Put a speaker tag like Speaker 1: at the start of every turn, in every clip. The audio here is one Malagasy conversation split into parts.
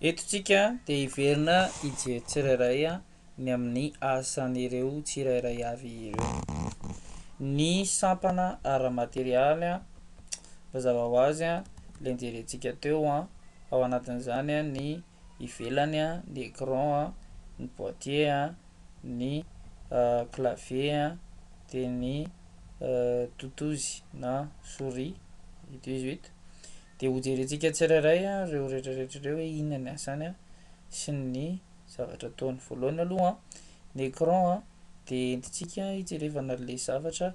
Speaker 1: Eto tsika dia hiverina hijery tsirairay ny amin'ny asan'ireo tsirairay avy ireo. Ny sampana ara-materialy mazava ho azy ilay nojerentsika teo ao anatin'izany ny ivelany ny écran, ny boitier, ny clavier dia ny totozy na souris, ito izy ito. Dia hojerentsika tsirairay ireo rehetrarehetra ireo hoe inona ny asany sy ny zavatra ataony. Voalohany aloha, ny écran dia entintsika hijerevana an'ilay zavatra,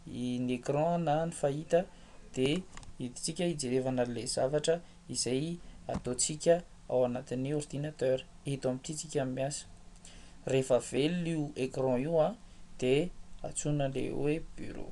Speaker 1: ny écran na ny fahita dia entintsika hijerevana an'ilay zavatra izay ataontsika ao anatin'ny ordinateur, eto amin'ity isika no miasa. Rehefa velona io écran io dia antsoina ilay hoe bureau.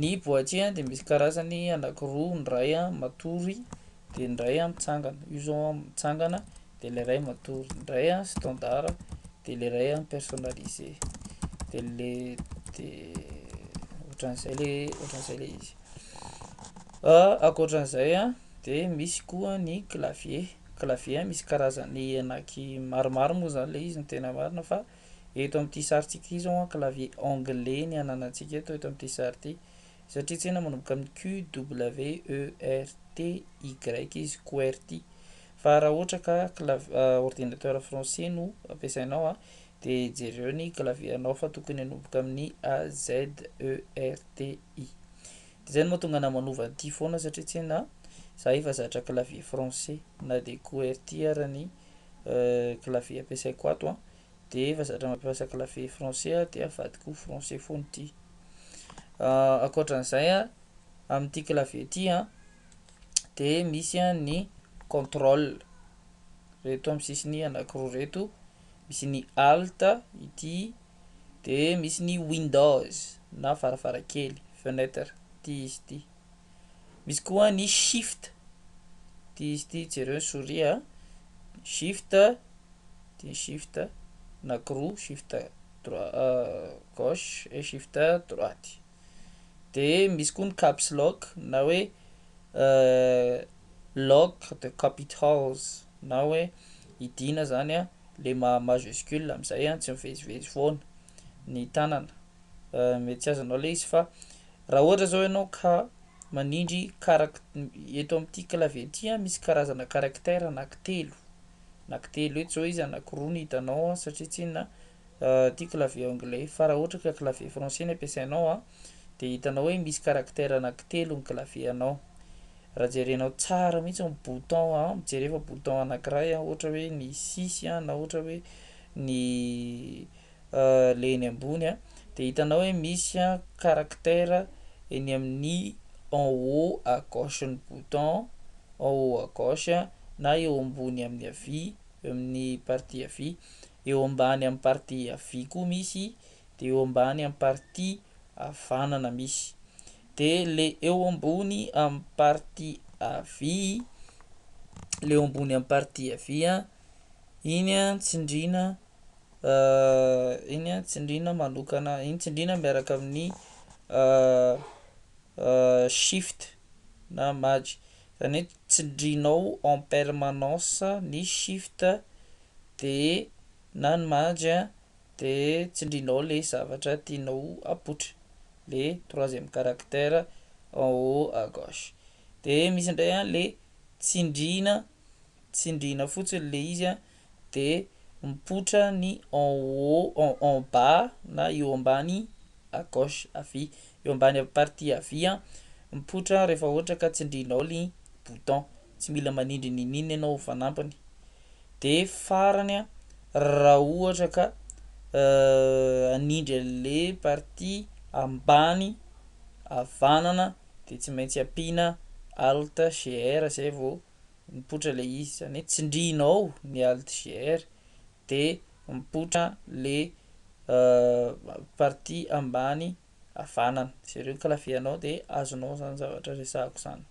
Speaker 1: Ny boaty a de misy karazany anakiroa, ny ray a matory de ny ray a mitsangana, io zao a mitsangana de le ray matory, ny ray a standard a de le ray a personnalisé, de le de ohatran'izay le ohatran'izay le izy, ankoatran'izay a de misy koa ny clavier, clavier a misy karazany anaky maromaro moa zany le izy ny tena marina fa. Eto amin'ity sarintsika ity izao an, clavier anglais ny ananantsika eto, eto amin'ity sary ity. Satria tse na manomboka amin'ny QWERTY izy, QWERTY. Fa raha ohatra ka clav- ah, ordinateur français no ampiasainao an, de jereo ny clavier anao fa tokony hanomboka amin'ny AZERTY. De zay no mahatonga anah manova an'ity foana satria tse na za efa zatra clavier français, na de QWERTY ara ny. clavier ampiasaiko ato an dia efa zatra mampiasa clavier français aho dia avadiko ho français foana ity ankoatran'izay an amin'ity clavier ity an dia misy an ny controle reto amin'ny sisiny anankiroa reto misy ny alt ity dia misy ny windows na varavarankely fenêtre ity izy ity Misy koa ny shift, ity izy ity jereo ny souris a, shift ity ny shift na croix, shift droit gauche et shift droite, de misy koa ny caps lock na hoe lock de capitals na hoe hidiana zany a le maha majuscule amizay a tsy mivezivezy foana ny tanana, mety tsy azonao le izy fa Raha ohatra zao ianao ka manindry karact- eto amin'ity clavier ity an, misy karazana caractère anaky telo, anaky telo eto zao izy anaky roa no hitanao an, satria tsinona ity clavier anglais io, fa raha ohatra ka clavier français no ampiasainao an, de hitanao hoe misy caractère anaky telo ny clavier anao, raha jerenao tsara mihitsy ny bouton an, mijereo fa bouton anakiray an, ohatra hoe ny six an, na ohatra hoe ny le eny ambony a de hitanao hoe misy a caractère eny amin'ny en haut à gauche ny bouton en haut à gauche na eo ambony amin'ny havia eo amin'ny partie havia eo ambany amin'ny partie havia koa misy de eo ambany amin'ny partie havanana misy de le eo ambony amin'ny partie havia le eo ambony amin'ny partie havia iny a tsindriana Iny an, tsindrina manokana, iny tsindrina miaraka amin'ny shift na maj, zany hoe tsindrinao en permanence ny shift de na ny maj de tsindrinao le zavatra tianao apoitra, le troisième caractère en haut à gauche, de misy ndray an le tsindrina, tsindrina fotsiny le izy an. de mipoitra ny en haut en en bas na eo ambany à gauche havia eo ambany partie havia mipoitra rehefa ohatra ka tsindrinao ny bouton tsy mila manindry niniana ianao ho fanampiny de farany a raha ohatra ka hanindry anle partie ambany havanana de tsy maintsy ampiana alt GR zay vao mipoitra le izy zany hoe tsindrianao ny altgr de mipoitra le partie ambany havanana sy ireo clavier anao de azonao zany zavatra resahako zany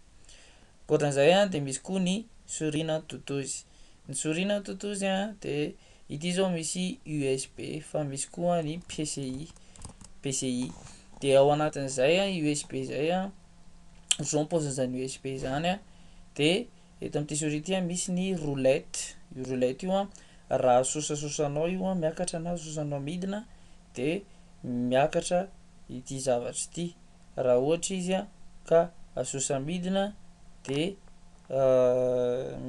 Speaker 1: ankoatran'izay a de misy koa ny souris na totozy ny souris na totozy a de ity zao misy usb fa misy koa ny pci pci de ao anatin'izay a usb zay a zao ny paozin' izany USB izany a, de eto amin'ity souris ity a misy ny roulette, io roulette io a raha asosasosanao io a miakatra na asosanao midina de miakatra ity zavatra ity, raha ohatra izy a ka asosa midina de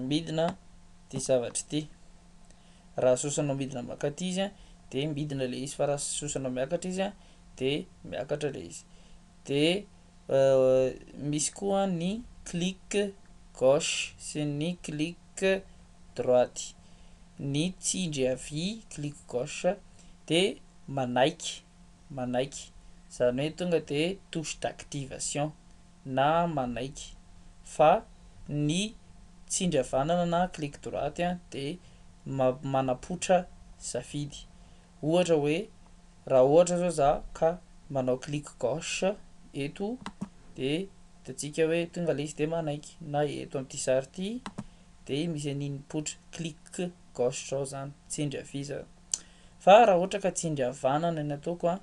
Speaker 1: midina ity zavatra ity, raha asosanao midina mankaty izy a de midina le izy fa raha asosanao miakatra izy a de miakatra le izy. Dia misy koa ny clic gauche sy ny clic droite. Ny tsindry havia, clic gauche, dia manaiky, manaiky, izany hoe tonga dia touche d'activation na manaiky. Fa ny tsindry havanana na clic droite dia manapoitra safidy. Ohatra hoe Raha ohatra zao za ka manao clic gauche eto de hitantsika hoe tonga ilay izy de manaiky na eto amin'ity sary ity de misy an'iny poitra clic gauche zao zany tsindry havia zany fa raha ohatra ka tsindry havanana ny ataoko a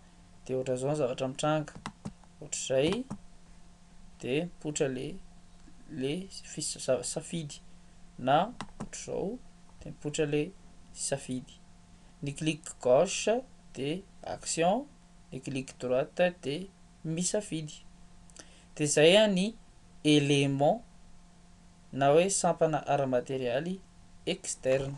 Speaker 1: de ohatran'izao ny zavatra mitranga ohatr'izay de poitra le le safidy na ohatr'izao de mipoitra le safidy ny clic gauche dia action, ny clic droite dia misafidy. Dia izay ny élément na hoe sampana ara-materialy externe.